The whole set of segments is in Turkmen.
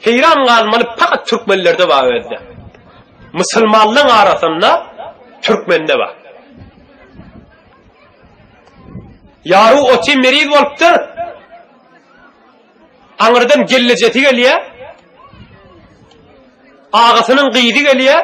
Heýran galmaly pakat türkmenlerde bar özde. Musulmanlaň arasynda türkmende bar. Ýary oty meriz bolupdyr. Aňyrdan gellejesi gelýär. Agasynyň gyzy gelýär.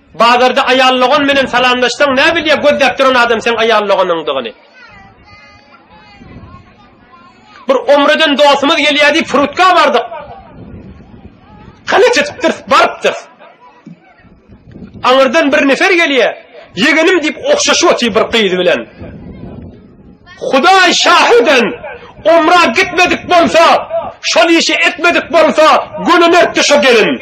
Bazarda aýal dogan menen salamlaşsaň nä bilýä gözläp duran adam seň aýal doganyňdygyny. Bir omreden dostumyz gelýär diýip frutka bardyk. Hany çytypdyr, barypdyr. Aňyrdan bir nefer gelýär. Ýegenim diýip ogşaşyp otyr bir gyz bilen. Hudaý şahiden omra gitmedik bolsa, şol işi etmedik bolsa, gönüne düşe gelin.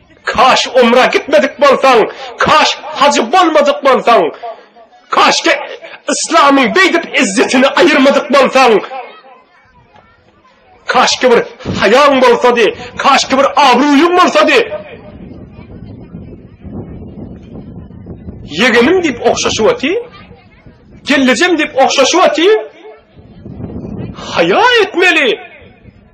Kaş umra gitmedik bolsaň, kaş hajy bolmadyk bolsaň, kaşke yslamyň beýdip izzetini aýyrmadyk bolsaň, kaşke bir haýaň bolsady, kaşke bir abraýyň bolsady. Ýegenim diýip ogşaşyp oty, gellejem diýip ogşaşyp oty. Haýa etmeli.